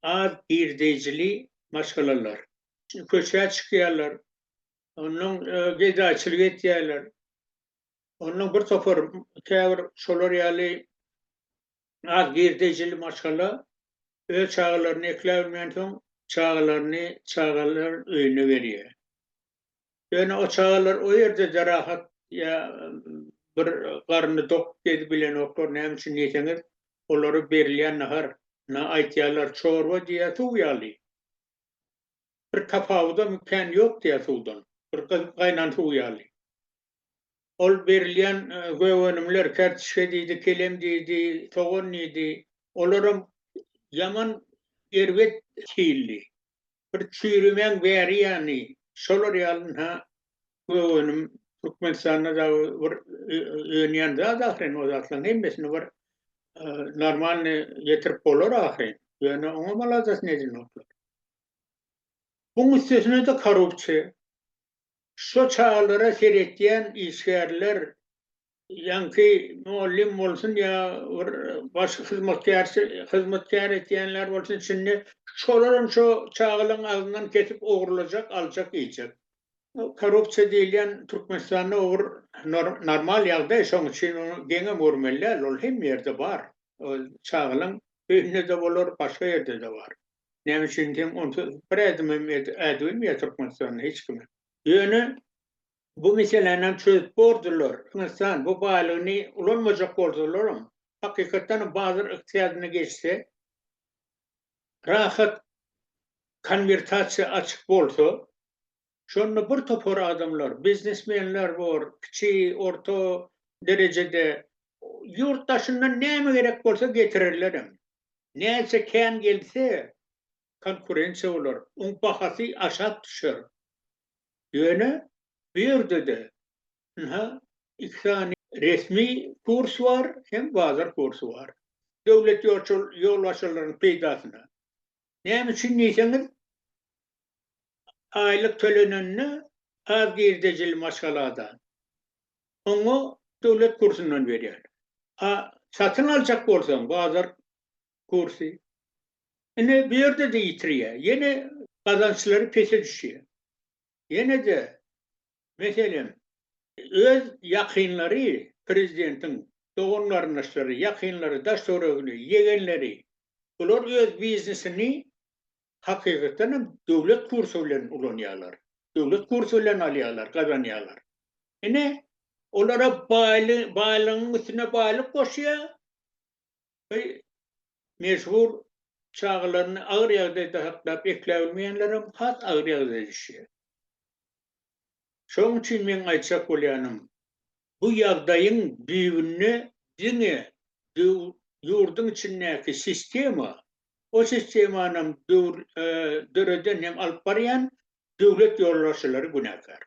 az girdeýjili maşgalalar. Çünki köçä çykýarlar, Ondan gedaçylyk etýärler. Ondan bir topar käbir şolar ýaly az girdejili maşgala öz çagalaryny ekläbilmän soň çagalaryny çagalar öýüne berýär. Ýöne o çagalar o ýerde-de rahat ýa bir garny dok gezip bilenoklar. Näme üçin diýseňiz, olara berilýän nahar, na aýtýarlar çorba diýýär suw ýaly. Bir tapawudam kän ýok diýýär suwdan. Bir gaýnan suw ýaly. Ol berilýän gögönümler, kärtişge diýdi, kelem diýdi, sogan diýdi, olaram ýaman erbet hilli. Bir çüýrümäň bäri ýany, şolar ýalynha gögönüm Türkmenistanda dagy bir önýän zat ahyryn, o zatlaryň hemmesini bir normalny getirip bolar ahyryn. Ýöne oňam aladasyny edinoklar. Bu müstesna-da korrupsiýa. Şo çagalara seretýän işgärler, ýaňky mugallym bolsun ýa bir başga hyzmatkärçi, hyzmatkär etýänler bolsun içinde, şolaram şo çagalaryň agzyndan kesip ogrulajak, aljak, iýjek. Korrupsiýa diýilýän Türkmenistanda o bir normal ýagdaý, şoň üçin ony geňem görmeli däl, ol hemme ýerde bar. Ol çagalaryň öýünde-de bolar, başga ýerde-de bar. Näme üçin diýseň, onsuz bir ädimem ädilmeýär Türkmenistanda hiç kime. Ýöne bu meselänem çözüp bordular. Türkmenistan bu baýlygyny ulanmajak boldularam. Hakykatdanam bazar ykdysadyna geçse, rahat konwertasiýa açyk bolsa, Şonda bir topar adamlar, biznesmenler bor, kiçi, orta derejede, ýurt daşyndan näme gerek bolsa getirerlerem. Näçe kän gelse, konkurensiýa bolar, oň bahasy aşak düşer. Ýöne bu ýerde-de, ynha, iki sany resmi kurs bar hem bazar kursy bar. Döwlet ýolbaşçylarynyň peýdasyna. Näme üçin diýseňiz, aýlyk tölenende az girdejili maşgalada oňa döwlet kursundan berýärler. A satyn aljak bolsaň bazar kursy. Ine bu ýerde-de ýitirýär. Ýene gazançlary pese düşýär. Ýene-de Meselem, öz ýakynlary, prezidentiň dogan-garyndaşlary, ýakynlary, daş-töweregini, ýegenleri, bular öz biznesini hakykatdan hem döwlet kursy bilen ulanýarlar, döwlet kursy bilen alýarlar, gazanýarlar. Ine, olara baýly, baýlygyň üstüne baýlyk goşýar we mejbur çagalaryny agyr ýagdaýda saklap ekläbilmeýänlerem has agyr ýagdaýa düşýär. Şoň üçin meň aýtjak bolýanym, bu ýagdaýyň düýbünde diňe ýurduň içindäki sistema, o sistemanam döreden hem alyp barýan döwlet ýolbaşçylary günäkär.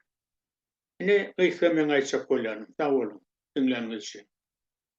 Ine, gysga meň aýtjak bolýanym. Sag boluň, diňläniňiz üçin.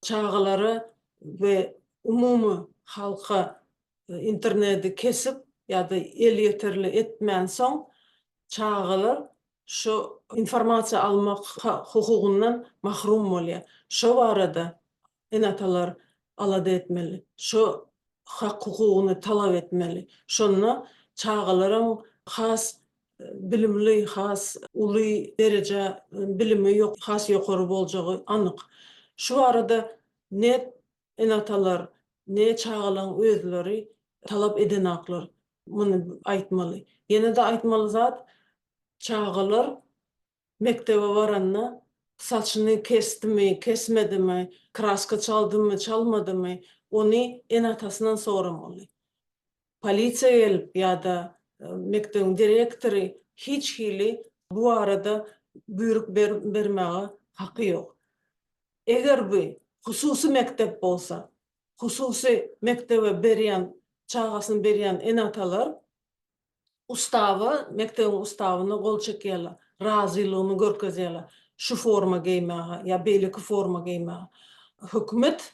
çagalara we umumy halka interneti kesip ýa-da elýeterli etmänsoň, çagalar şu informasiýa almak hukugyndan mahrum bolýar. Şo barada ene-atalar alada etmeli, şo hak-hukugyny talap etmeli. Şonda çagalaryň has bilimli, has uly derejä bilimi has ýokary boljagy anyk. Şu barada ne ene-atalar, ne çagalaň özleri talap edenaklar. Muny aýtmaly. Ýene-de aýtmaly zat, çagalar Mekdebe baranda, saçyny kesdimi, kesmedimi, kraska çaldymy, çalmadymy, ony ene-atasyndan soramaly. Polisiýa gelip ýa-da mekdebiň direktory hiç hili bu barada buýruk bermäge haky ýok. Eger bu hususy mekdep bolsa, hususy mekdebe berýän, çagasyny berýän ene-atalar Ustaba, mekdebiň ustabyna gol çekýärler, razylygyny görkezýärler şu forma geýmäge ýa beýleki forma geýmäge. Hökümet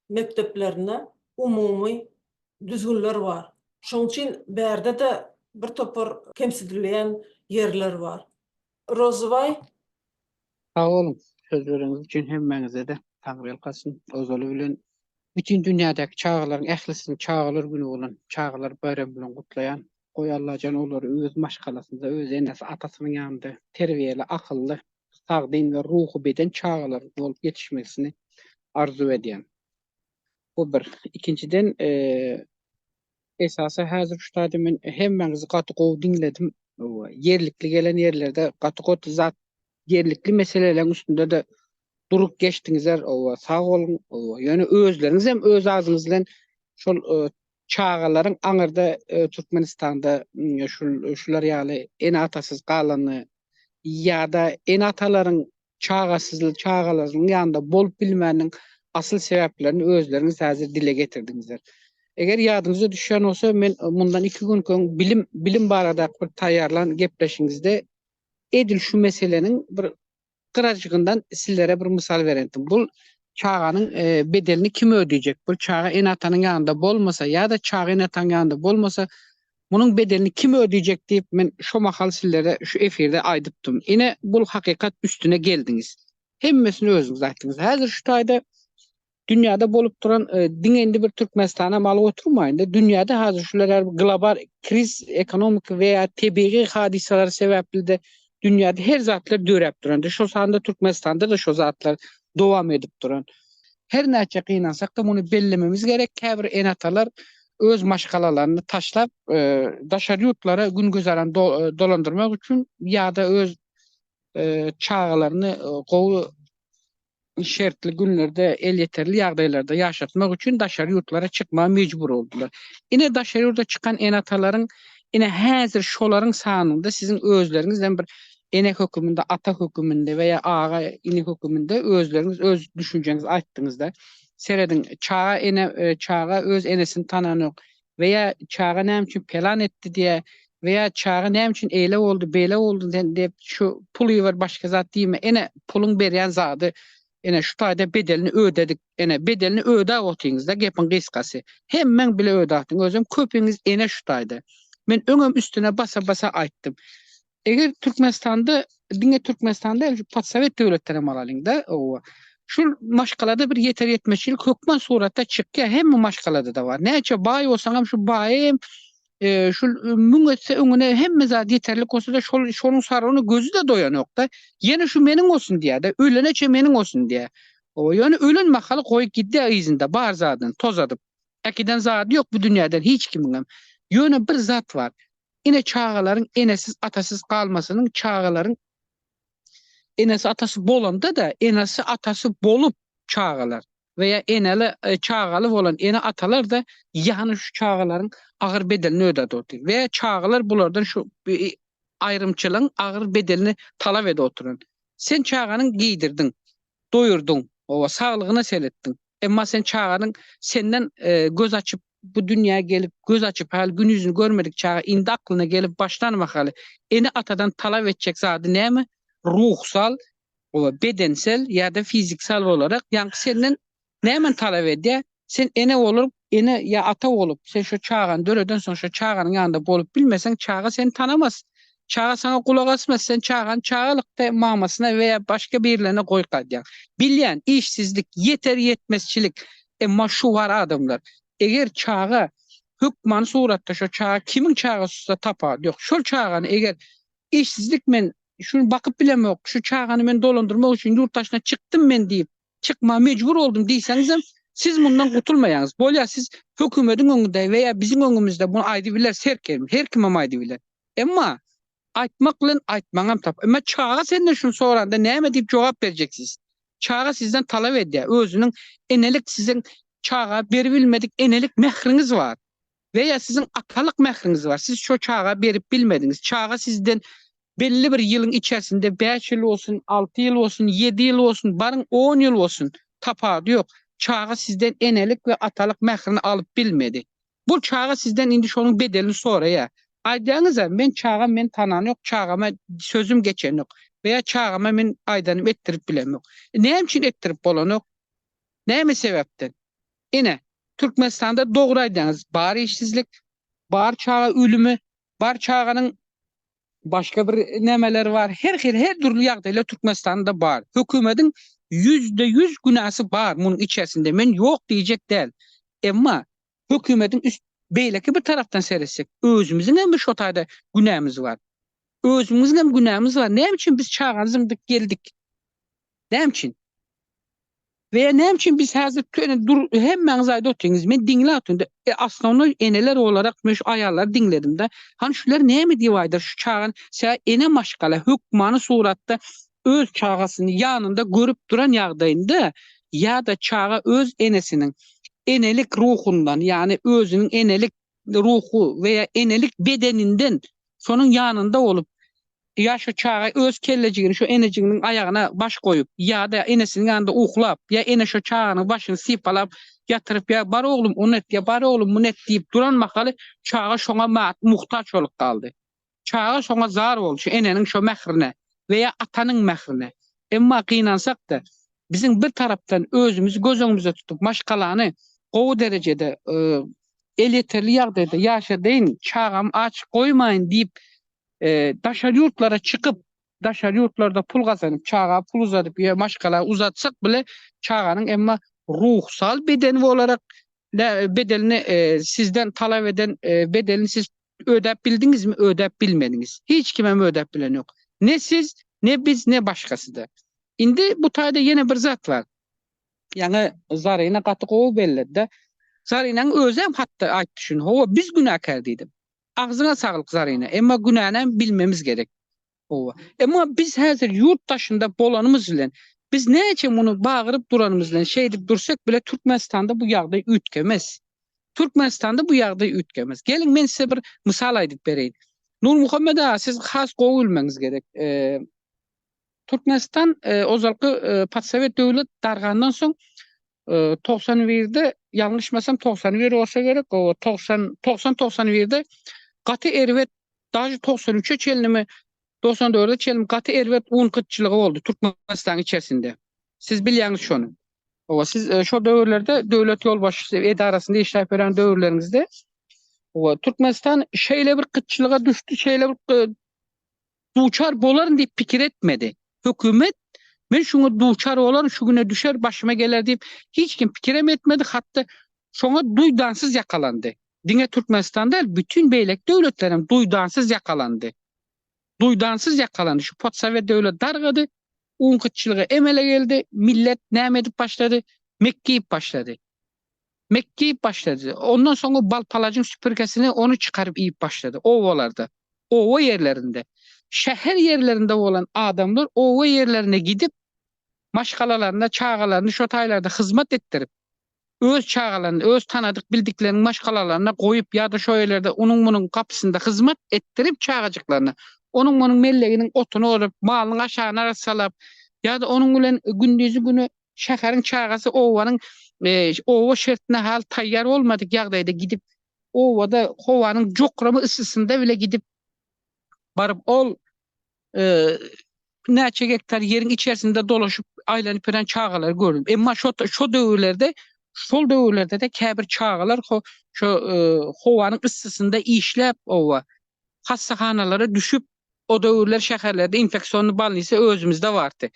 mekdeplerinde umumy düzgünler bar. Şonuň üçin bärde-de birtopar kemsidilýän ýerler bar. Rozybaý. Sag boluň, sözleriňiz üçin hemmäňize-de Taňry ýalkasyn. Ozaly bilen bütin dünýädäki çagalaryň ählisini Çagalar güni bolan Çagalar baýramy bilen gutlaýan. Goý Allajan olary öz maşgalasynda, öz enesi, atasynyň ýanynda terbiýeli, akylly, sagdyn we ruhy beden çagalar bolup ýetişmesini arzuw edýän. Bu bir. Ikinjiden, Esasy häzir şu taýda men hemmäňizi gaty gowy diňledim. Ýerlikli gelen ýerlerde gaty goty zat ýerlikli meseleleriň üstünde-de durup geçdiňizler. Owa, sag boluň. Owa, ýöne özleriňiz hem öz adyňyz bilen şol çagalaryň aňyrda Türkmenistanda şul şular ýaly ene-atasyz galany ýa-da ene-atalaryň çagasyzly çagalarynyň ýanynda bolup bilmäniniň asyl sebäplerini özleriňiz häzir dile getirdiňizler. Eger ýadyňyza düşýän bolsa, men mundan iki günki öň bilim bilim barada bir taýýarlan gepleşiňizde edil şu meseleniň bir gyrajygyndan sizlere bir mysal berendim. Bu çaganyň e, bedelini kim ödeyjek? Bu çaga ene-atanyň ýanynda bolmasa ýa-da çaga ene-atanyň ýanynda bolmasa Munuň bedelini kim ödeyjek diyip men şo mahal sizlere şu efirde aydypdym. Ine bul hakykat üstüne geldiňiz. Hemmesini özüňiz aytdyňyz. Hazir şu tayda dünyada bolup duran diňe indi bir Türkmenistana maly oturmayın da dünyada hazir şular global kriz ekonomik veya tebiği hadisalar sebepli de dünýäde her zatlar döräp durandy. Şol sanda Türkmenistanda-da şo zatlar dowam edip duran. Her näçe gynansak-da muny bellememiz gerek, käbir ene-atalar öz maşgalalaryny taşlap, e, daşary ýurtlara gün güzeran e, dolandyrmak üçin ýa-da öz e, çagalaryny gowy şertli günlerde elýeterli ýagdaýlarda ýaşatmak üçin daşary ýurtlara çykmaga mejbur boldular. Ine daşary ýurda çykan ene-atalaryň ine häzir şolaryň sanynda siziň özleriňiz hem bir ene höküminde, ata höküminde we ýa aga, ini höküminde özleriňiz öz düşünjeňizi aýtdyňyzda. Serediň, çaga ene çaga öz enesini tananok. we ýa çaga näme üçin pelan etdi diýä we ýa çaga näme üçin eýle boldy beýle boldy sen diýip şu pul iber başga zat diýme ene puluň berýän zady ene şu taýda bedelini ödedik ene bedelini ödäp otyňyzda gepiň gysgasy hemmeň bile ödätiň özem köpiňiz ene şu taýda men öňem üstüne basa basa aýtdym Eger Türkmenistanda, diňe Türkmenistanda, post-sowet döwletden hem alalyň-da, oba. Şul maşgalada bir ýeter-ýetmezçilik hökman suratda çykýar, hemme maşgalada-da bar. Näçe baý bolsaň hem, şul baýy hem, şul müň etse öňüne hemme zat ýeterlik bolsa-da, şol, şonuň sarygyna gözi-de doýanok-da. Ýene şu meniň bolsun diýýär-de, ölene çen meniň bolsun diýýär. Oba, ýöne ölen mahaly goýup gidýär yzynda bar zadyny tozadyp. Äkiden zady ýok bu dünýäden hiç kimiňem. Ýöne bir zat bar. Ine çagalaryň enesiz atasyz galmasynyň çagalaryň enesi atasy bolanda da enesi atasy bolup çagalar we ya eneli e, çagaly bolan ene atalar da yani şu çagalaryň agyr bedelini ödedi otur. Ve çagalar bulardan şu e, ayrımçılığın agyr bedelini talap edip oturan. Sen çaganın giydirdin, doyurdun, o saglygyna seretdin. Emma sen çaganın senden e, göz açıp bu dünýä gelip göz açyp haly gün ýüzüni görmedik çaga indi aklyna gelip başlany mahaly ene atadan talap etjek zady näme ruhsal we bedensel ýa-da fiziksal olarak ýaňky senden nämeni talap edýär sen ene bolup ene ýa ata bolup sen şo çagany döredensoň şo çaganyň ýanynda bolup bilmeseň çaga seni tanamas çaga saňa gulak asmaz sen çagany çagalykda mamasyna we ýa başga birlerine goýup gaýdýaň bilýän işsizlik ýeter ýetmezçilik Emma şu bar adamlar. Eger çaga hökmany suratda şo çaga kimiň çagasy-da tapawudy ýok. Şol çagany eger işsizlik men şuny bakyp bilemok, şu çagany men dolandyrmak üçin ýurt daşyna çykdym men diýip, çykmaga mejbur boldum diýseňizem, siz mundan gutulmaýaňyz. Bolýar siz hökümediň öňünde we ýa biziň öňümizde muny aýdybilersiz her kim, her kimem aýdybiler. Emma Aýtmak bilen aýtmaňam tap. Emma çaga senden şuny soranda näme diýip jogap berjeksiz? Çaga sizden talap edýär. Özüniň enelik siziň çaga berip bilmedik enelik mähriňiz bar. We ýa siziň atalyk mähriňiz bar. Siz şo çaga berip bilmediňiz. Çaga sizden belli bir ýylyň içersinde bäş ýyl bolsun, alty ýyl bolsun, ýedi ýyl bolsun, baryň on ýyl bolsun, tapawudy ýok. Çaga sizden enelik we atalyk mährini alyp bilmedi. Bu çaga sizden indi şonuň bedelini soraýar. Aýdaňyz-a, men çagam meni tanan ýok, çagama sözüm geçen ýok we ýa çagama men aýdanymy etdirip bilen ýok. Näme üçin etdirip bolanok? Näme sebäpden? Ine, Türkmenistanda dogry aýdaňyz, bar işsizlik, bar çaga ölümi, bar çaganyň Başga bir nämeler bar. Her hili her dürli ýagdaýlar Türkmenistanda bar. Hökümediň ýüzde ýüz günäsi bar munuň içersinde. Men ýok diýjek däl. Emma hökümediň üst beýleki bir tarapdan seretsek, özümiziň hem bir şo taýda günämiz bar. Özümiziň hem günämiz bar. Näme üçin biz çaga zyňdyk geldik? Näme üçin? Veya näme üçin biz häzir töne dur hemmäňiz aýda otyňyz men diňläp otyryn e osnovnoý eneler olarak men şu aýallary diňledim da hany şular näme diýip aýdar şu çagany sä ene maşgala hökmany suratda öz çagasyny ýanynda görüp duran ýagdaýynda ýada çaga öz enesiniň enelik ruhundan ýany özüniň enelik ruhu veya enelik bedeninden şonuň ýanynda bolup Ýa şu çaga öz kellejigini şu enejiginiň aýagyna baş goýup, ýa-da enesiniň ýanynda uklap, ýa ene şu çaganyň başyny sypalap ýatyryp, ýa bar oglum, ony et, ýa bar oglum, muny et diýip duran mahaly çaga şoňa muhtaç bolup galdy. Çaga şoňa zar boldy, şu eneniň şo mährine we ýa atanyň mährine. Emma gynansak-da, biziň bir tarapdan özümizi göz öňümizde tutup, maşgalany gowy derejede, elýeterli ýagdaýda ýaşadyň, çagamy aç goýmaýyn diýip Daşary ýurtlara çykyp, daşary ýurtlarda pul gazanyp, çaga pul uzadyp ýa maşgala uzatsak bile, çaganyň emma ruhsal bedeni bolarek bedelini sizden talap eden bedelini siz ödäp bildiňizmi, ödäp bilmediňiz. Hiç kim hem ödäp bilen ýok. Ne siz, ne biz, ne başgasy-da. Indi bu taýda ýene bir zat bar. Ýaňy Zarina gaty gowy belledi-de. Zarinaň özem hatda aýtdy şuny. Hawa, biz günäkär diýdim. Agzyňa saglyk Zarina emma günänem bilmemiz gerek oba emma biz häzir ýurt daşynda bolanymyz bilen biz näçe muny bagyryp duranymyz bilen şeýdip dursak bile Türkmenistanda bu ýagdaý üýtgemez Türkmenistanda bu ýagdaý üýtgemez geliň men size bir mysal aýdyp bereýin Nurmuhammet aga siz has gowy bilmeňiz gerek Türkmenistan ozalky podsowet döwlet dargandan soň togsan birde ýalňyşmasam togsan bir bolsa gerek oba togsan togsan togsan birde gaty erbet daži togsan üçe çenlimi togsan dörde çenlimi gaty erbet un gytçylygy boldy türkmenistanyň içerisinde siz bilýäňiz şony oba siz e, şo döwürlerde döwlet ýolbaşçysy edarasynda işläp ýören döwürleriňizde oba türkmenistan şeýle bir gytçylyga düşdi şeýle bir e, Duçar bolaryn diýip pikir etmedi. Hökümet Men şuňa duçar bolaryn, şu güne düşer, başyma geler diýip hiç kim pikirem etmedi, hatda şoňa duýdansyz ýakalandy. Diňe Türkmenistan däl, bütin beýleki döwletler hem duýdansyz ýakalandy. Duýdansyz ýakalandy. Şu podsowet döwleti dargady, un gytçylygy emele geldi, millet näme edip başlady? Mekgeýip başlady. Mek diýip başlady. Ondan soň o bal-palajyň süpürgesini ony çykaryp iýip başlady. Obalarda, oba ýerlerinde, şäher ýerlerinde bolan adamlar oba ýerlerine gidip, maşgalalaryna çagalaryny şo taýlarda hyzmat etdirip, öz çagalaryny, öz tanadyk-bildikleriniň maşgalalaryna goýup ýa-da şo ýerlerde onuň-munuň gapysynda hyzmat etdirip çagajyklaryna, onuň-munuň melleginiň otuny ozup, malynyň aşagyny arassalap ýa-da onuň bilen gündizi-güni şäheriň çagasy obanyň oba şertine haly taýýar bolmadyk ýagdaýda gidip, obada howanyň jokrama yssysynda bile gidip baryp, ol näçe gektar ýeriň içerisinde dolaşyp, aýlanyp ýören çagalary gördüm. Emma şo şo döwürlerde, şol döwürlerde-de käbir çagalar ho şo howanyň yssysynda işläp, oba hassahanalara düşüp, O döwürler şäherlerde infeksionny bolnisa özümizde bardy.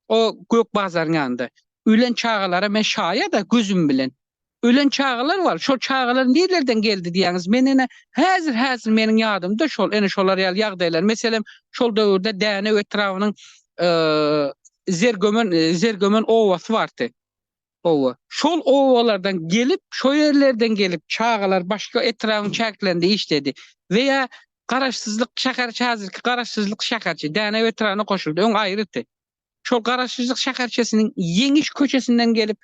O Gök bazaryň ýanynda. Ölen çagalara men şaýada gözüm bilen. Ölen çagalar bar. Şol çagalar nirlerden geldi diýýäňiz? Men ene häzir häzir meniň ýadymda şol ene şolar ýaly ýagdaýlar. Meselem, şol döwürde Dänew etrabynyň Zergömen Zergömen obasy bardy. Hawa. Şol obalardan gelip, şo ýerlerden gelip çagalar başga etrabyň çäklerinde işledi. We ýa Garaşsyzlyk şäherçe häzirki Garaşsyzlyk şäherçe Dänew etrabyna goşuldy. Öň aýrydy. Şol Garaşsyzlyk şäherçesiniň Ýeňiş köçesinden gelip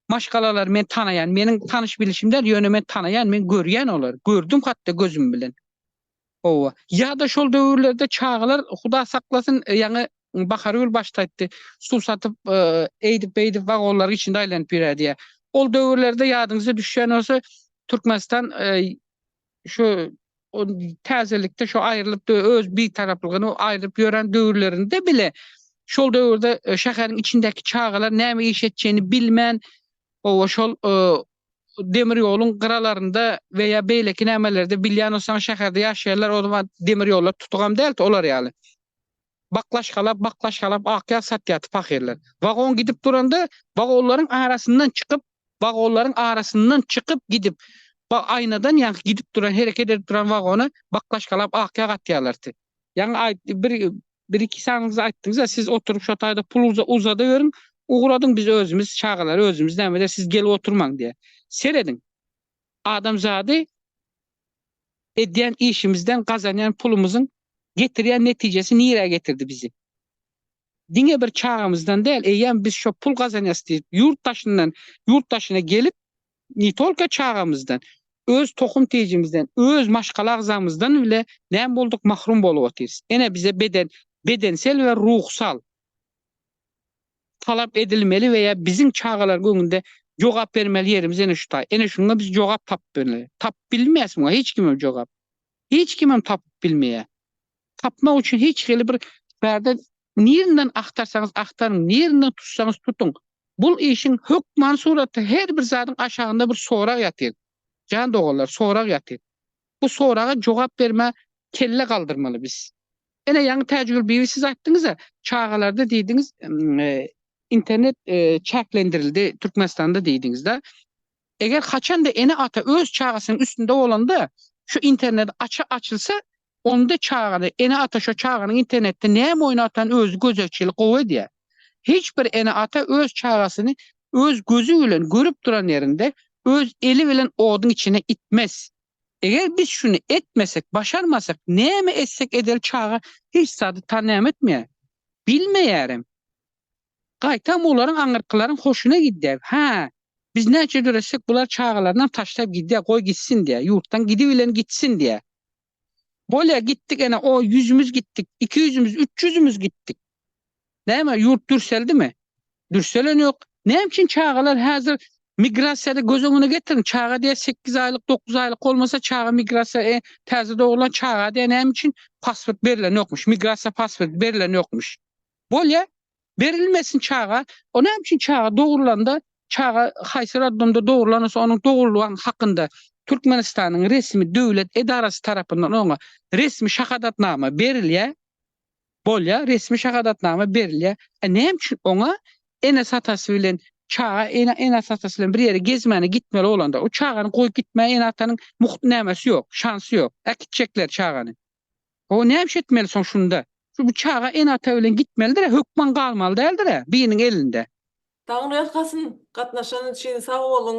maşgalalary men tanaýan. Meniň tanyş-bilişim däl, ýöne men tanaýan, men görýän olary. Gördüm hat-da gözüm bilen. Hawa. Ýa-da şol döwürlerde çagalar, Huda saklasyn, ýaňy Bahargül başda aýtdy, suw satyp, eýdip-beýdip wagonlaryň içinde aýlanyp ýörerdi diýýär. Ol döwürlerde ýadyňyza düşýän bolsa, Türkmenistan şu täzelikde şu aýrylyp, öz bitaraplygyny aýrylyp ýören döwürlerinde bile, şol döwürde şäheriň içindäki çagalar näme iş etjegini bilmän, hawa, şol demir ýoluň gyralarynda we ýa beýleki nämelerde bilýän bolsaň şäherde ýaşaýanlar o zaman demir ýollar tutugam däldi olar ýaly baklaşkalap baklaşkalap ak ýag satýardy pahyrlar wagon gidip duranda wagonlaryň arasyndan çykyp wagonlaryň arasyndan çykyp gidip ba aýnadan ýaňky gidip duran hereket edip duran wagona baklaşkalap ak ýag atýarlardy ýaňy aýt bir Bir iki sanyňyzy aýtdyňyza siz oturyp şo taýda pul uzadaweriň ugradyň biz özümiz çagalar özümiz näme der siz gelip oturmaň diýe. Serediň. Adamzady edýän işimizden gazanýan pulumyzyň getirýän netijesi nirä getirdi bizi. Diňe bir çagamyzdan däl eýýäm biz şo pul gazanýas diýip ýurt daşyndan ýurt daşyna gelip Ne tolko çagamyzdan, öz tohum tejimizden, öz maşgala agzamyzdan bile näme bolduk mahrum bolup otyrys. Ene bize beden, bedensel we ruhsal talap edilmeli we ýa biziň çagalaryň öňünde jogap bermeli ýerimiz ene şu taý. Ene şuňa biz jogap tapmaly. Tapyp bilmeýäs muňa hiç kimem jogap. Hiç kimem tapyp bilmeýär. Tapmak üçin hiç hili bir bärde Nirinden agtarsaňyz agtaryň, nirinden tutsaňyz tutuň, bul işiň hökmany suraty her bir zadyň aşagynda bir sorag ýatyr. Jan doganlar, sorag ýatyr. Bu soraga jogap bermä kelle galdyrmaly biz. Ene ýaňy Täjigül bibi siz aýtdyňyz-a, çagalarda diýdiňiz, internet çäklendirildi Türkmenistanda diýdiňiz-da. Eger haçanda ene-ata öz çagasynyň üstünde bolanda, şu internet aça açylsa, onda çagada, ene-ata şo çaganyň internetde näme oýun atan özi gözegçilik gowy edýär. Hiç bir ene-ata öz çagasyny öz gözi bilen görüp duran ýerinde öz eli bilen oduň içine itmez. Eger biz şuny etmesek, başarmasak, näme etsek edeli çaga hiç zady tanäm etmeýär. Bilmeýärem. Gaýtam olaryň aňyrkylaryň hoşuna gidýär. Hä, biz näçe döretsek, bular çagalarynam taşlap gidýär, goý gitsin diýýär. Ýurtdan gidibilen gitsin diýýär. Bolýar, gitdik ene, o ýüzümiz gitdik, iki ýüzümiz, üç ýüzümiz gitdik. Näme, ýurt dürseldimi? Dürseleni ýok. Näme üçin çagalar häzir migrasiýada göz öňüne getiriň, çaga diýýär sekiz aýlyk, dokuz aýlyk bolmasa çaga migrasiýa, e, täze dogrulan çaga diýýär, näme üçin pasport berilen ýokmuş, migrasiýa pasporty berilen ýokmuş. Bolýa, berilmesin çaga, o näme üçin çaga dogurlanda, çaga haýsy roddomda dogurlansa onuň dogurlgany hakynda Türkmenistanyň resmi döwlet edarasy tarapyndan oňa resmi şahadatnama berilýä, bolýa, resmi şahadatnama berilýä, e näme üçin oňa enesi-atasy bilen çaga enesi-atasy bilen bir ýere gezmäne gitmeli bolanda, o çagany goýup gitmäge ene-atanyň mugt nämesi ýok, şansy ýok, äkitjekler çagany. Ho näme etmeli soň şunda. Şu bu çaga ene ata bilen gitmelidirä hökman galmaly däldirä biriniň elinde. Taňry ýalkasyn gatnaşanyz üçin sag boluň.